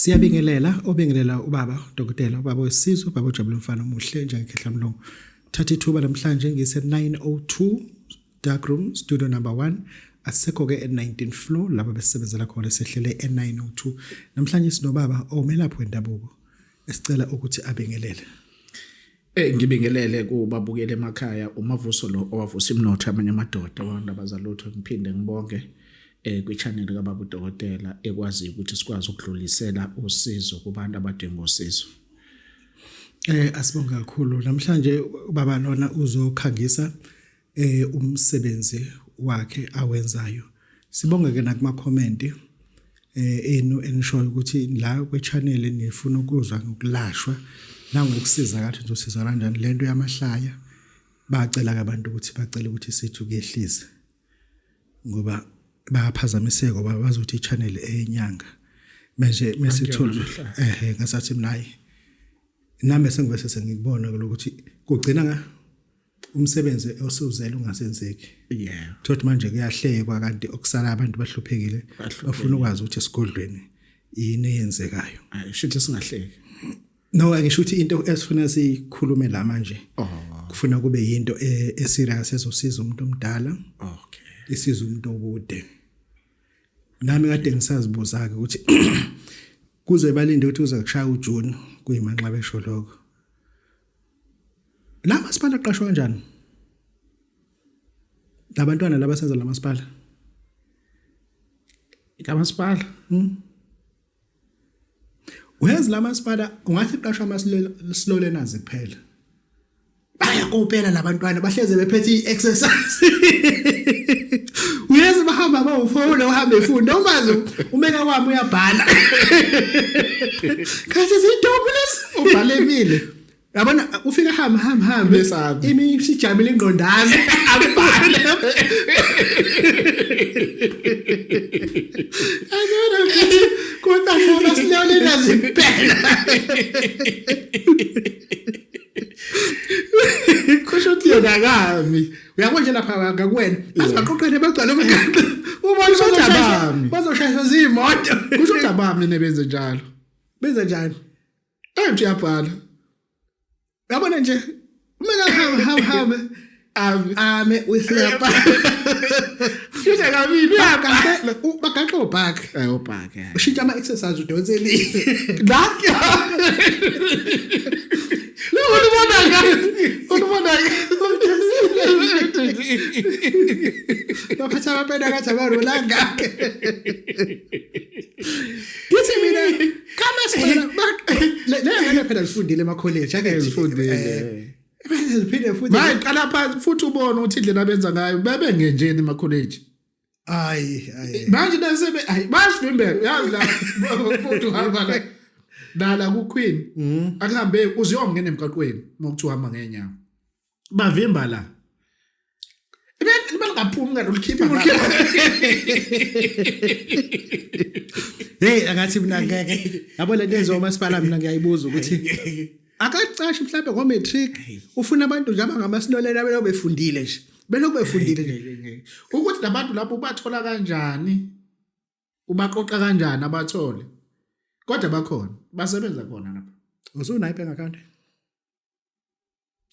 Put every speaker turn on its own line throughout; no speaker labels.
Siyabingelela obingelela ubaba dokotela ubaba wesizwe ubaba ojabule mfana omuhle njengekhehla mlungu. Thatha ithuba namhlanje ngise 902 dark room studio number 1 asekho ke e19 floor lapho besebenzela khona sehlele e902. Namhlanje sinobaba omelaphi wendabuko esicela ukuthi abingelele. Eh
ngibingelele kubabukele emakhaya umavuso lo owavusa imnotho amanye amadoda wandaba zalutho ngiphinde ngibonge eh kwichannel kaBaba uDokotela ekwazi ukuthi sikwazi ukudlulisela usizo kubantu abadinga usizo. Eh asibonga
kakhulu namhlanje baba lona uzokhangisa eh umsebenzi wakhe awenzayo sibonge ke nakuma comment eh enu enishoyo ukuthi la kwe channel nifuna ukuzwa ngokulashwa nangokusiza kathi uzosiza kanjani lento yamahlaya bacela ke abantu ukuthi bacela ukuthi sithi kuyehlise ngoba bayaphazamiseka ngoba bazothi i-channel eyenyanga manje mesithola ehe ngasathi mnayi nami sengivese sengikubona ukuthi kugcina umsebenzi osuzele ungasenzeki yeah thothi manje kuyahlekwa kanti okusala abantu bahluphekile bafuna ukwazi ukuthi esigodlweni yini eyenzekayo shuthi singahleki
no angisho
ukuthi into esifuna sikhulume la manje oh. kufuna kube yinto e, eserious ezosiza umuntu omdala okay isiza umuntu okude nami kade ngisazibuza ke ukuthi kuze balinde ukuthi uza kushaya uJune kuyimanxa besho lokho La masipala aqashwa kanjani? Labantwana laba senza la masipala. La
masipala.
Hmm? Where's la masipala ungathi qashwa amasilolenazi kuphela. Bayakopela labantwana bahleze bephethe i-exercise. Uyeza bahamba bawufona uhambe efunda umazi umeka kwami uyabhala. Khathi zidobulisa ubalekile yabona ufika hamba hamba hamba Besaba. imi
sijamile
ingqondana abhale akona ukuthi kodwa shona silale nazi impela kusho ukuthi yena akami uyabona nje lapha ngakuwena asibaqoqele bagcwale umgaqo ubona Kusho ukuthi abami. bazoshayiswa ziyimoto kusho ukuthi abami
nebenze njalo Benza njani?
Ayi mthi
yabhala.
Yabona nje uma kahamba hamba hamba ame ame uyisilapa.
Sisha kabili uyakasela bagaxa
obhak. Ayi obhak.
Ushintsha ama exercise
udonse le. Ngakhe.
Lo ubona ngani? Ubona ngani?
Baphatha abapenda kathi abarolanga. ngithi mina kama sibona le ngane phela zifundile emakholeji ake zifundile eh,
bese ziphinde
futhi maye qala phansi futhi
ubone ukuthi indlela abenza ngayo bebe ngenjeni emakholeji ayi
ayi manje
nasebe ayi basivimbela yazi la umuntu uhamba la nala ku queen mm. akuhambe uziyongena emgaqweni mokuthiwa hamba ngenyawo bavimba la ibalingaphumi kanti ulikhipha
hey akathi mina ngeke yabo le nto enziwa umasipala mina ngiyayibuza ukuthi akacashi mhlawumbe ngo-matric ufuna abantu nje abangamasilolelo abeloko befundile nje beloko befundile nje ukuthi nabantu lapho
ubathola kanjani ubaqoqa kanjani abathole kodwa bakhona basebenza khona lapho usunayo i-bank account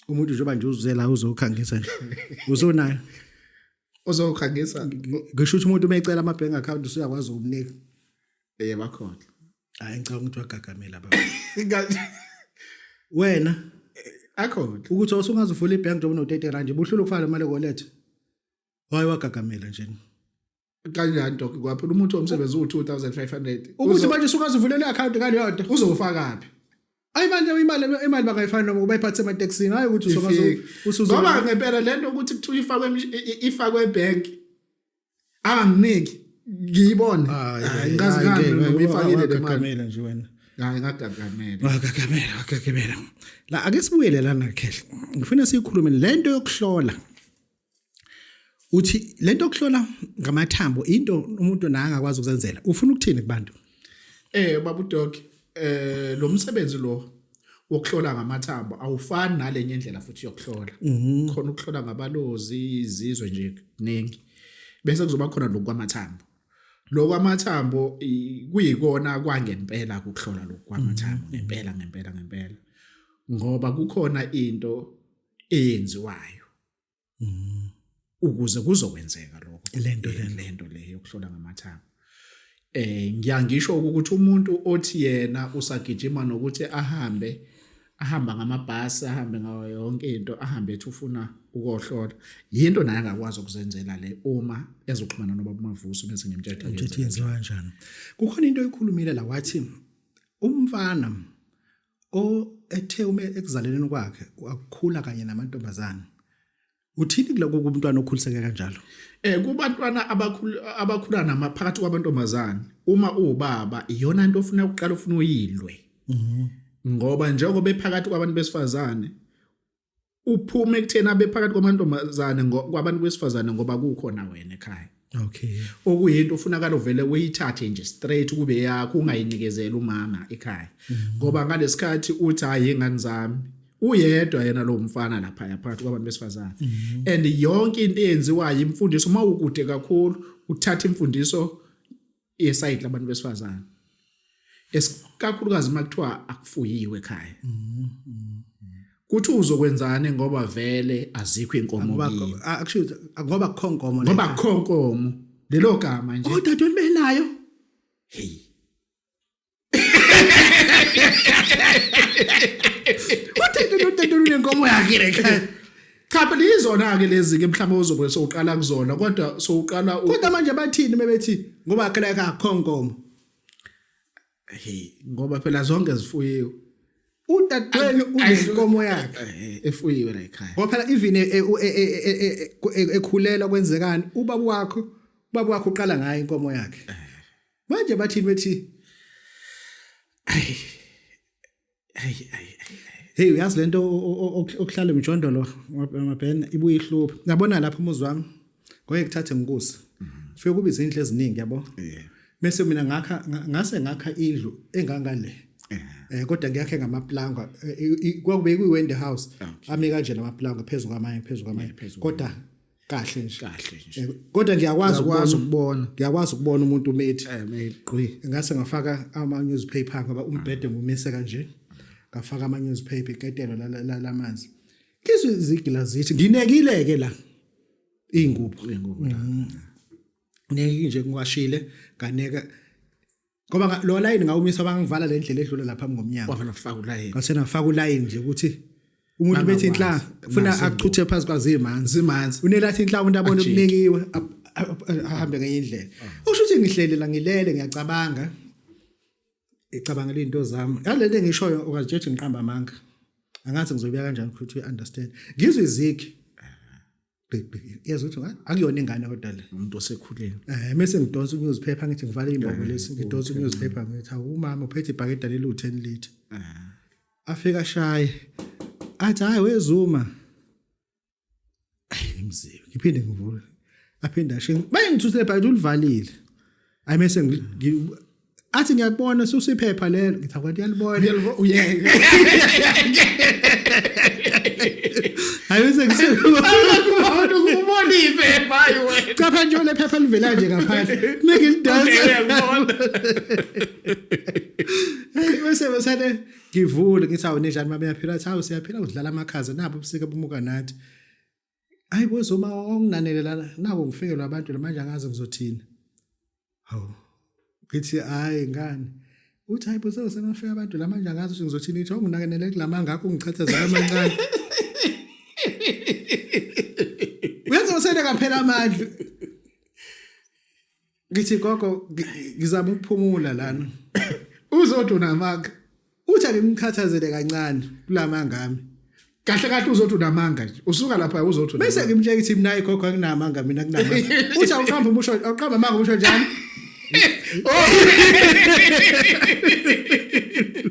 umuntu njengoba nje uzela uzokhangisa nje uzonayo
uzokhangisa ngisho
ukuthi umuntu umecela ama bank account usuyakwazi ukumnika eh
bakhona hayi
ngicabanga ukuthi wagagamela baba wena akhona
ukuthi usungaze
uvule ibank njengoba uno 30 rand buhlula ukufaka imali kolethe waye wagagamela nje kanjani
dok kwaphela umuntu omsebenzi uwu-2500 ukuthi manje
usungazivulele i-akhawunti ngaleyo nto uzowufakaphi
ayi manje imali
imali bangayifani noma bayiphathe ematekisini hayi ukuthi usuzongoba ngempela
le nto ukuthi kuthiwa ifakwe ifakwe ebhenk anginiki ngiyibone ngikazi
ngani noma
ifakile le mali nje
wena
hayi ngagagamele wagagamele
wagagamele la ake sibuyele lana khehla ngifuna siyikhulume lento yokuhlola uthi lento okuhlola ngamathambo into umuntu naye angakwazi ukuzenzela ufuna ukuthini kubantu eh babu
dog eh lo msebenzi lo wokuhlola ngamathambo awufani nalenye indlela futhi yokuhlola mhm. khona ukuhlola ngabalozi izizwe nje ningi bese kuzoba khona lokwamathambo lokwamathambo kuyikona kwangempela ukuhlola lokwamathambo mhm. ngempela ngempela ngempela ngoba kukhona into eyenziwayo mm. ukuze kuzokwenzeka lokho lento lento le yokuhlola ngamathanga eh ngiyangisho ukuthi umuntu othi yena usagijima nokuthi ahambe ahamba ngamabhasi ahambe ngayo yonke into ahambe ethi ufuna ukohlola yinto naye angakwazi ukuzenzela le uma ezoxhumana nobaba umavuso bese ngimtshela ukuthi yenziwa kanjani
kukhona into oyikhulumile la wathi umfana O ethe uma ekuzaleleni kwakhe wakukhula kanye namantombazane. Uthini kuloko kumntwana okhuliseke kanjalo? Eh kubantwana
abakhulu abakhula nama phakathi kwabantombazane uma uwubaba iyona into ofuna ukuqala ufuna uyilwe. Mhm. Ngoba njengoba ephakathi kwabantu besifazane uphume ekutheni abe phakathi kwamantombazane kwabantu besifazane ngoba kukhona wena ekhaya okay
okuyinto ufunakala
uvele uyithathe nje straight kube yakho ungayinikizela umama ekhaya mm-hmm. ngoba ngalesikhathi uthi hayi ingane zami uyedwa yena lo mfana lapha yaphathi kwabantu besifazane mm-hmm. and yonke into eyenziwayo imfundiso uma ukude kakhulu uthatha imfundiso yesayidi labantu besifazane esikakhulukazi makuthiwa akufuyiwe ekhaya kuthi uzokwenzani ngoba vele azikho inkomo kimi actually ngoba
kukho inkomo ngoba kukho inkomo
lelo gama nje oh dadweni benayo
hey nenkomo yakhe lekhaya cha phela
yizona-ke lezi-ke mhlawumbe ozobe sowuqala kuzona kodwa sowuqala kodwa manje bathini
mebethi ngoba khela kakho nkomo
hey ngoba phela zonke zifuyiwe udadweni
unenkomo yakhe eh, eh, efuyiwe la ekhaya
ngoba phela even e, e,
e, ekhulela kwenzekani ubaba wakho ubaba wakho uqala ngayo inkomo yakhe eh. manje bathini bethi ayi ayi ayi hey uyazi lento okuhlala emjondolo mabhena ibuye ihlupha ngabona lapha umuzi wami ngoye kuthathe ngikuze ufike kube izinhle eziningi yabo bese mina ngakha ngase ngakha indlu engangale eh kodwa ngiyakhe ngamaplanga eh, kwakube kuyiwende house ame kanje lamaplanga phezulu kwamanye phezulu kwamanye kodwa kahle nje kahle nje eh, kodwa ngiyakwazi ukwazi ukubona ngiyakwazi ukubona umuntu umethi eh meqi ngase ngafaka ama newspaper ngoba umbhede ngumise kanje ngafaka ama newspaper iketelo la lamanzi ngizwe izigila zithi nginekile ke la ingubo ingubo la mm. neke nje ngiwashile kaneka ngoba lo layini ngawumisa bangivala le ndlela edlula lapha ngomnyango wafuna kufaka ulayini ngasena
faka ulayini nje
ukuthi umuntu bethi inhla ufuna achuthe phansi kwazi imanzi imanzi unelathi inhla umuntu abone kunekiwe ahambe ngenye indlela ah. usho ukuthi ngihlele la ngilele ngiyacabanga icabangela into zami yalento engishoyo ukazijethi ngiqamba amanga angathi ngizobuya kanjani ukuthi uyi understand ngizwe izigi yazi ukuthi ah, akuyona ingane kodwa le umuntu osekhulile eh
mase ngidonsa
ukuziphepha ngithi ngivale imbobo eh, lesi ngidonsa ukuziphepha ngithi awu umama uphethe ibhakede leli u10 liter eh. afika shaye athi hayi wezuma ayi mzee ngiphinde ngivule aphinde ashe bayengithusele ibhakede ulivalile ayi mase athi ngiyakubona susa iphepha lelo ngithi akwathi uyalibona uyalibona uyeke ayise
kusekhona ukubona iphepha wena cha pha nje lephepha
livela nje ngaphandle make it dance bese besane ngivule ngithi awu ninjani mabe yaphila athi awu siyaphila udlala amakhaza nabo ubusika bumuka nathi Hayi bo zoma onginanele lana nako ngifikelwa abantu manje angazi ngizothini. Hawu. Ngithi hayi ngani. Uthi hayi bo sewusenafika abantu la manje angazi ukuthi ngizothini ngithi onginanele kulamanga akho ngichathazela amancane. Uyenza usele kaphela amandla. ngithi gogo ngizama ukuphumula lana uzothi
unamanga uthi
angimkhathazele kancane kulamanga ami kahle kahle uzothi
unamanga nje usuka lapha uzothi bese ngimtshela ukuthi mina
ikhokho anginamanga mina kunamanga uthi awuqamba umusho awuqamba manga umusho njani oh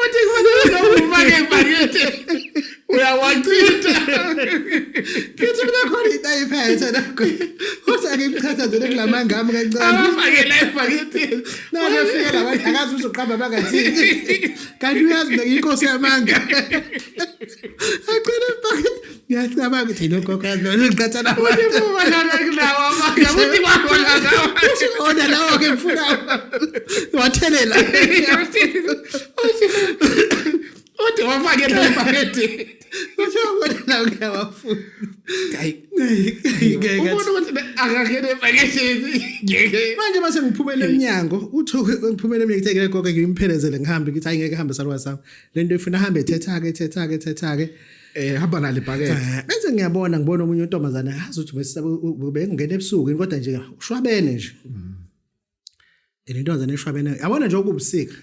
Uthi kufanele noma ufake ibhakede uyawachitha. Kithi mina
khona into ayiphethe nakho. Uthi akimchathazele kulamanga ami kancane. Abafakela ibhakede.
Nake fika la
bantu akazi uzoqamba bangathini. Kanti uyazi mina ngiyinkosi yamanga. Agcina ibhakede. ngiyacabanga ukuthi nogogo lona
ngiqathana ona lawo
ke ngifuna wathelela
uthi wafake lempaketi kusho
kona lawo ngiyawafuna ubona
ukuthi akangene epaketini manje mase ngiphumela
emnyango uthi ngiphumela emnyango ngithekele gogo ngimphelezele ngihambe ngithi hayi ngeke hambe salwa sami lento ifuna hambe ethetha-ke ethetha-ke ethetha-ke eh hamba
nalo ibhakede eh, bese ngiyabona ngibona
omunye untombazana yazi ukuthi besisaba bengena ebusuku kodwa nje ushwabene nje mm. and intombazana eshwabene yabona nje okubusika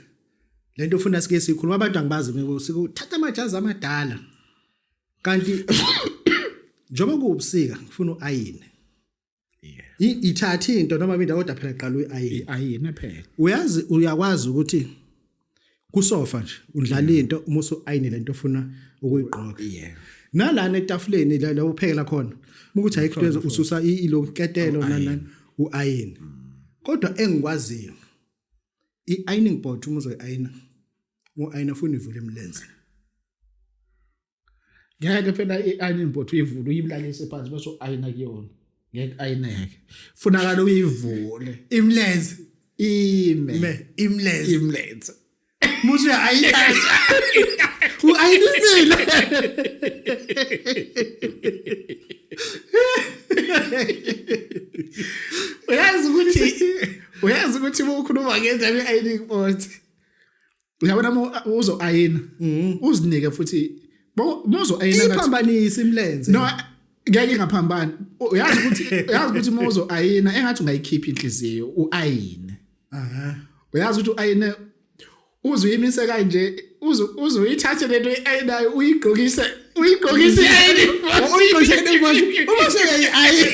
lento ufuna sike sikhuluma abantu angibazi ngibusika uthatha amajazi amadala kanti njengoba kuwubusika ngifuna uayine yeah ithatha into noma mina kodwa phela qala uyi ayina phela
uyazi uyakwazi
ukuthi kusofa nje udlala into uma usu ayinile into ofuna ukuyigqoka yeah
nalana etafuleni
la la uphekela khona ukuthi ayikho lezo ususa iloketelo nanani uayini mm. kodwa engikwaziyo iining board uma uzoyayina uayina ufuna ivule imilenze
ngeke phela i-ironing board uyivule uyibulalise phansi bese u-ayina kuyona ngeke ayineke funakala uyivule imlenze
ime me imlenze imlenze
musu ya
ayina uayinisile
uyazi ukuthi uyazi ukuthi ukhuluma ngendaba ye-ironing board uyabona uma uzo ayina mm. uzinike futhi muzo ayina ngathi iphambanisa imlenze no
ngeke
ngaphambana uyazi ukuthi uyazi ukuthi muzo ayina engathi ungayikhipha inhliziyo uayine aha uyazi ukuthi uayine uzuyimise kanje uzu uzuyithathe lento ayinayo uyigqokise uyigqokise ayini uyigqokise ayini uma
sekayi ayini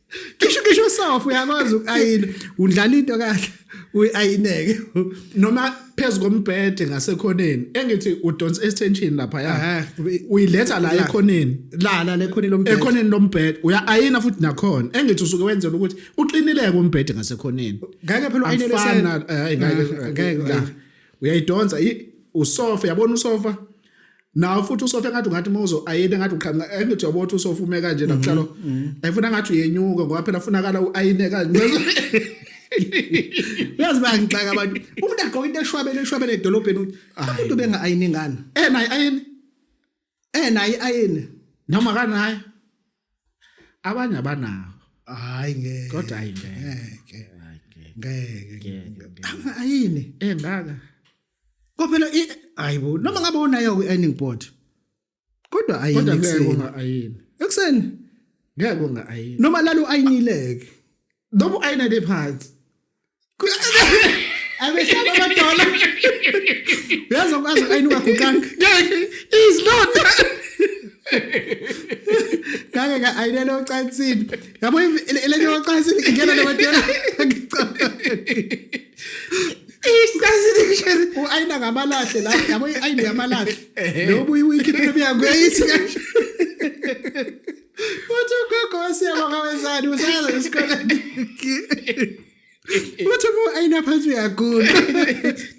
Kisho kisho sofa uyakwazi ukayina udlala into kahle uyayineke noma
phezu kombhede ngasekhoneni engithi udonsa extension lapha ya uyiletha la ekhoneni la la lekhoneni
lombhede ekhoneni lombhede uya
ayina futhi nakhona engithi usuke wenzela ukuthi uqinileke umbhede ngasekhoneni ngeke phela ayinele
sana
ngeke uyayidonsa usofa yabona usofa nawo futhi usofa engathi ungathi uma uzo ayine engathi uqhamuka engithi yabo ukuthi usofa ume kanje mhm, nakuhlalo mhm. ayifuna engathi uyenyuka ngoba phela funakala uayine kanje uyazi
bayangixaka abantu umuntu agqoka into eshwabele eshwabele edolobheni umuntu benga ayine ngani eh nayi ayine eh
nayi ayine
noma kanayi
abanye abanawo hayi ngeke
kodwa hayi ngeke
ngeke
ngeke ayini engaka
Kophela
i ayibo noma ngabe unayo kwi earning board. Kodwa ayini. Kodwa ngeke unga ayini.
Ekseni
ngeke unga
ayini. Noma lalu ayinileke.
Noma
ayina le phansi.
Abeshaba amadola. Uyazi ukwazi ayini ungaguqanga. Is
not.
Ngake ka ayinele ocansini. Yabo ile nto ocansini ingena le madola. u-ayina ngamalahle la yabo i-ayini yamalahle lobu iwikhiphe emyango yayithi kanje uthi ugogo wesiyabonga wezani usayaza esikoleni uthi uma u-ayina phansi uyaguqa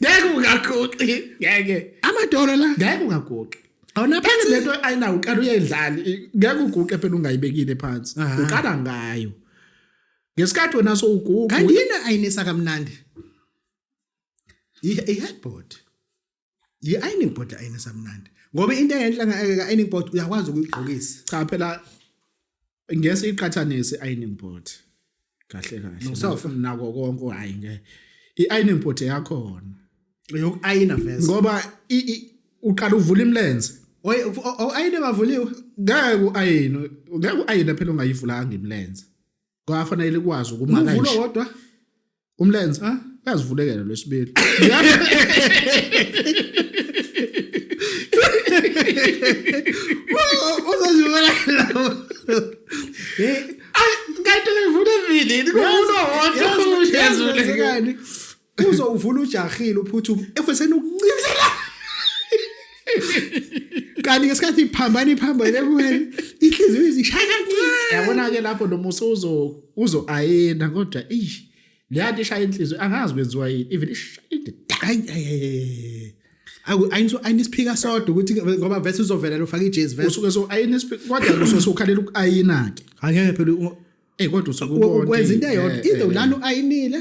ngeke
ungaguqi ngeke amadolo la
ngeke ungaguqi
awunaphele le
nto ayinawo
uqala uyayidlali ngeke uguqe phela ungayibekile phansi uqala ngayo ngesikhathi wena sowugugu kanti yena ayinisa
kamnandi i-headboard yi-ironing board ayinisa mnandi ngoba into engenhla nge-ironing board uyakwazi ukuyigqokisa cha phela
ngese iqhathanise i-ironing board kahle kahle nosofa nako
konke hayi
nge i-ironing board yakhona yoku-ayina
vese ngoba
uqala uvula imlenze oy ayine
bavuliwe ngeke
u-ayine ngeke u-ayine phela ongayivulanga imlenze kwafanele ikwazi ukuma
kanje umvulo
wodwa umlenze uyazivulekela lwesibili
uzozivula
kanti ngivule evilini kuvulwa wodwa uyazivulekani
uzowuvula ujahile uphuthume efeseni ukuncizela kanti ngesikhathi iphambana iphambane kuwena inhliziyo izishaya kancane yabona-ke lapho noma
uzo-ayina kodwa ish leya nto ishaya inhliziyo angazi kwenziwa yini even
ayinisiphika sodwa ukuthi ngoba vese uzovelela ufake ijezi vesuke so ayinisiphika
kodwa kusuke sokhalela uku-ayina-ke angeke phela
eyi kodwa usuke
ukwenza into eyodwa either
ulana u-ayinile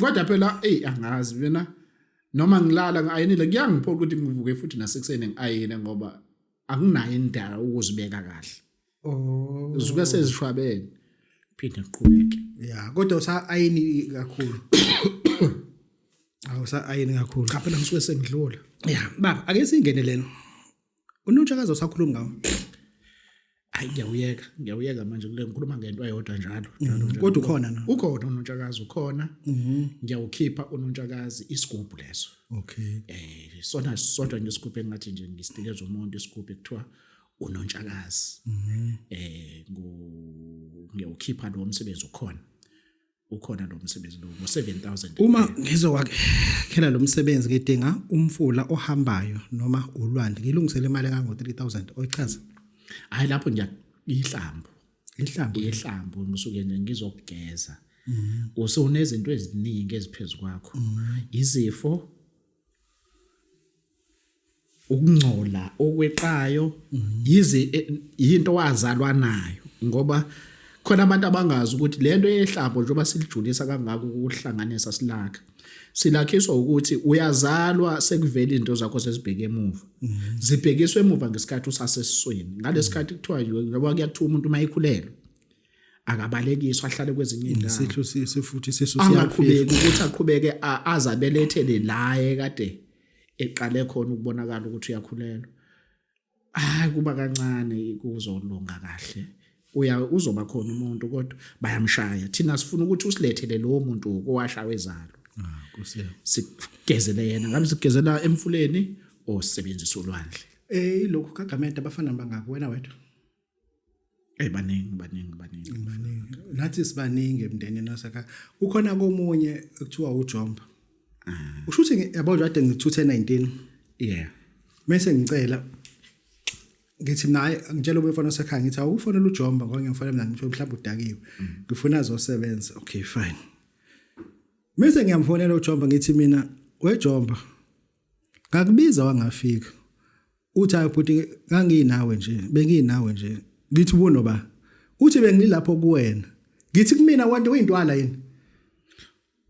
kodwa phela eyi angazi mina noma ngilala ngi-ayinile kuyangiphoqa ukuthi ngivuke futhi nasekuseni ngi-ayine ngoba akunayo indaba ukuzibeka kahle oh zisuke sezishwabene phinde ngiqhubeke ya kodwa usa-ayini
kakhulu awusa-ayini kakhulu cha phela ngisuke sengidlula
ya baba ake
singene lena unontshakazi osakhuluma ngawo
hayi ngiyawuyeka ngiyawuyeka manje kule ngikhuluma ngento eyodwa njalo mhm. kodwa ukhona na
ukhona unontshakazi
ukhona mhm. ngiyawukhipha unontshakazi isigubhu leso okay eh
sona
sodwa ngesigubhu engathi nje ngisinikeza umuntu isigubhu ekuthiwa unontshakazi mhm. eh ngiyawukhipha lo msebenzi ukhona ukhona lo msebenzi lo ngo-7000 uma
ngizokwakhela lo msebenzi ngidinga umfula ohambayo noma ulwandle ngilungisele imali engango-3000 oyichaza hhayi lapho
ngiyihlambo ihlambo ihlambo ngisuke nje ngizokugeza mm-hmm. usunezinto eziningi eziphezu kwakho mm-hmm. izifo ukungcola okweqayo mhm. yize eh, yinto wazalwa nayo ngoba khona abantu abangazi ukuthi lento yehlabo njengoba silijulisa kangaka ukuhlanganisa silakha silakhiswa ukuthi uyazalwa sekuvela izinto zakho sezibheke emuva mhm. zibhekiswe emuva ngesikhathi usasesisweni ngalesi mhm. khathi kuthiwa njengoba kuyathiwa umuntu uma ekhulelwe akabalekiswa ahlale kwezinye indawo isihlo sise futhi
sisu siyaqhubeka ukuthi
aqhubeke azabelethele laye kade eqale khona ukubonakala ukuthi uyakhulelwa hayi kuba kancane kuzolunga kahle uya uzoba khona umuntu kodwa bayamshaya thina sifuna ukuthi usilethele lowo muntu owashawe zalo ah, sigezele yena ngabe sigezela emfuleni osebenzisa ulwandle eh lokho kagamenta
abafana bangako wena wedwa
Hey baningi baningi baningi
baningi nathi sibaningi emndenini wasakha kukhona komunye ekuthiwa uJomba ah. usho ukuthi yabo nje ade ngithuthe 19 yeah mase ngicela ngithi naye ngitshela ubefana osekhaya ngithi awukufonela uJomba ngoba ngiyamfonela mina ngithiwe mhlawumbe udakiwe mm. ngifuna azosebenza okay fine mase ngiyamfonela uJomba ngithi mina weJomba ngakubiza wangafika uthi hayi bhuti nganginawe nje benginawe nje ngithi ubono ba uthi bengilapho kuwena ngithi kumina wonke uyintwala yini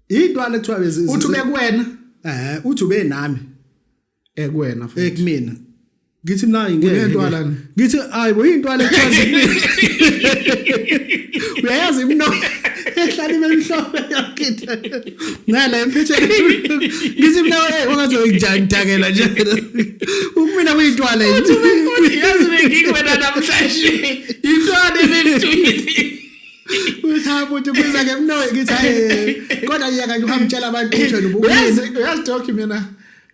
intwala kuthiwa bezi uthi bekuwena
eh uthi ube
nami ekuwena
futhi ekumina
ngithi mina ngeke intwala ngithi
hayi bo
intwala kuthiwa uyayazi imno ehlala imhlophe yakithe ngala emphetheni ngithi mina hey ungathi ngidakela nje ukumina kuyintwala yini
yazi bengikwena namhlanje intwala ebengithuyithi
Uthabo uthi kuza ke mno ngithi hayi kodwa yeka nje uhamtshela abantu ukuthi wena ubukwenza uyazi doki mina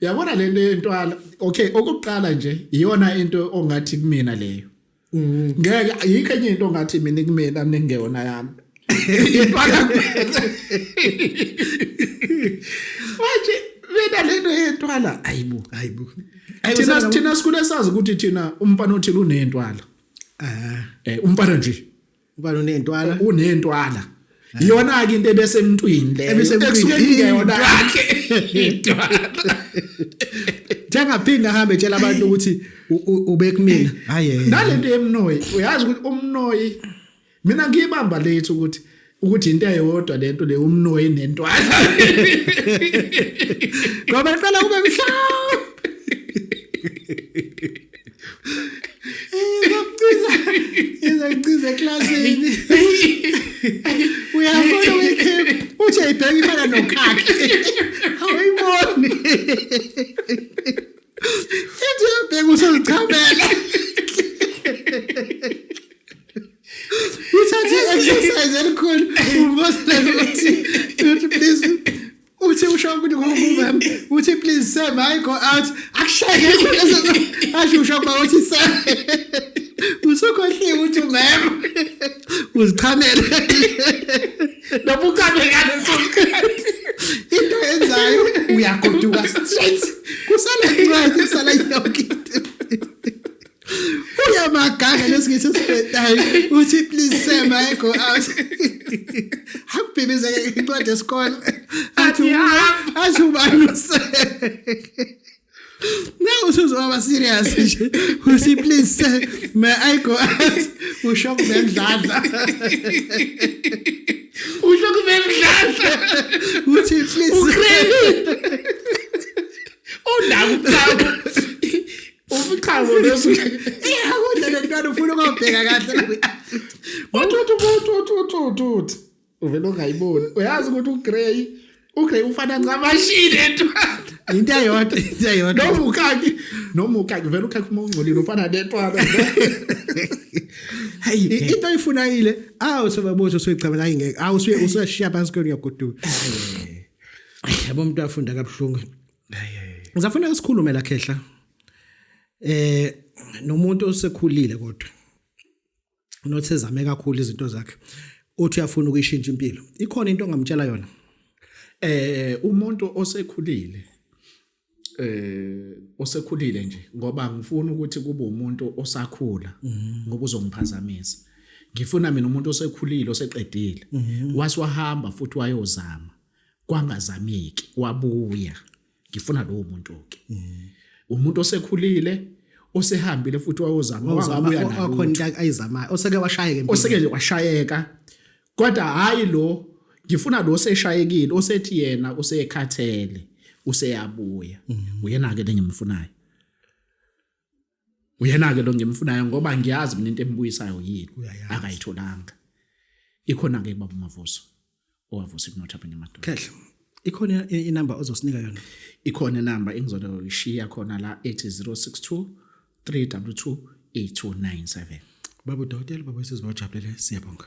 yabona lento yentwala okay okuqala nje iyona into ongathi kumina leyo Mm. ngeke yikho enye into ngathi mina kumina ningeyona yami impala manje mina lento yentwala ayibo ayibo thina thina sikhule sazi ukuthi thina umfana othile unentwala ah eh umfana nje ubani unentwala
eh, unentwala
iyona ke into ebese emntwini le ebisemntwini yakhe njengaphinda
ahambe etshela abantu ukuthi ubekumina hayi nalento yemnoyi
uyazi ukuthi umnoyi mina ngiyibamba lethu ukuthi ukuthi into eyodwa lento le umnoyi nentwala
ngoba
cela kube
mhlawumbe izakuciza eklasini uyafona wekhephu uthi ayibheka imana nokhakhe awuyiboni ithi uyabheka usozichamela uthathe i-exercise elikhulu umbosela ukuthi please uthi usho ukuthi ngomumem uthi please sir my go out akushaye asho usho ba uthi sir usukhohliwe uthi mem uzichamele noma uchabe ngane sosikhathi into enzayo uyagoduka straight kusale incwadi sala yonke into uyamaganga lesingisi sibhedayo uthi please sir may go out akubhibizeke incwadi yesikole athi athi ubaluse na usuzowaba serious nje uthi please sir may i go out usho kubendladla usho kubendladla uthi please ukreli
undawo Ufiqhazo leso.
Eh akudla lentwana ufuna ukubheka kahle. Wathi wathi wathi
wathi wathi. Uvela ongayiboni. Uyazi ukuthi uGrey uGrey ufana ngamashini entwana. into eyodwa
into eyodwa noma ukhaki
noma ukhaki vele ukhaki uma ungcolile ufana netwana
hayi into oyifunayile awu sobabozo soyicabela hayi ngeke awu usuye usashiya phansi kweni uyagoduka yabo umuntu afunda kabuhlungu Ngizafanele sikhulume la khehla. Eh nomuntu osekhulile kodwa nothi ezame kakhulu izinto zakhe uthi uyafuna ukuyishintsha impilo. Ikhona into ongamtshela yona? Eh
umuntu osekhulile eh osekhulile nje ngoba ngifuna ukuthi kube umuntu osakhula mhm. ngoba uzongiphazamisa. Ngifuna mina umuntu osekhulile oseqedile mhm. wasiwahamba futhi wayozama. kwangazameki wabuya ngifuna lowo muntu ke mm. umuntu osekhulile osehambile futhi wayozama wabuya nayo wakhona ayizamayo
oseke washayeka oseke washayeka
kodwa hayi lo ngifuna lo seshayekile osethi yena usekhathele useyabuya mm. uyena ke lengimfunayo uyena-ke lo ngimfunayo ngoba ngiyazi mina into embuyisayo yini akayitholanga ikhona-ke baba umavuso owavusa ikunotha phela emadoda kahle ikhona
inamba ozosinika yona ikhona inamba
engizoyishiya khona la ethi 062 322
8297 baba udokotela baba isizwe
wajabulele
siyabonga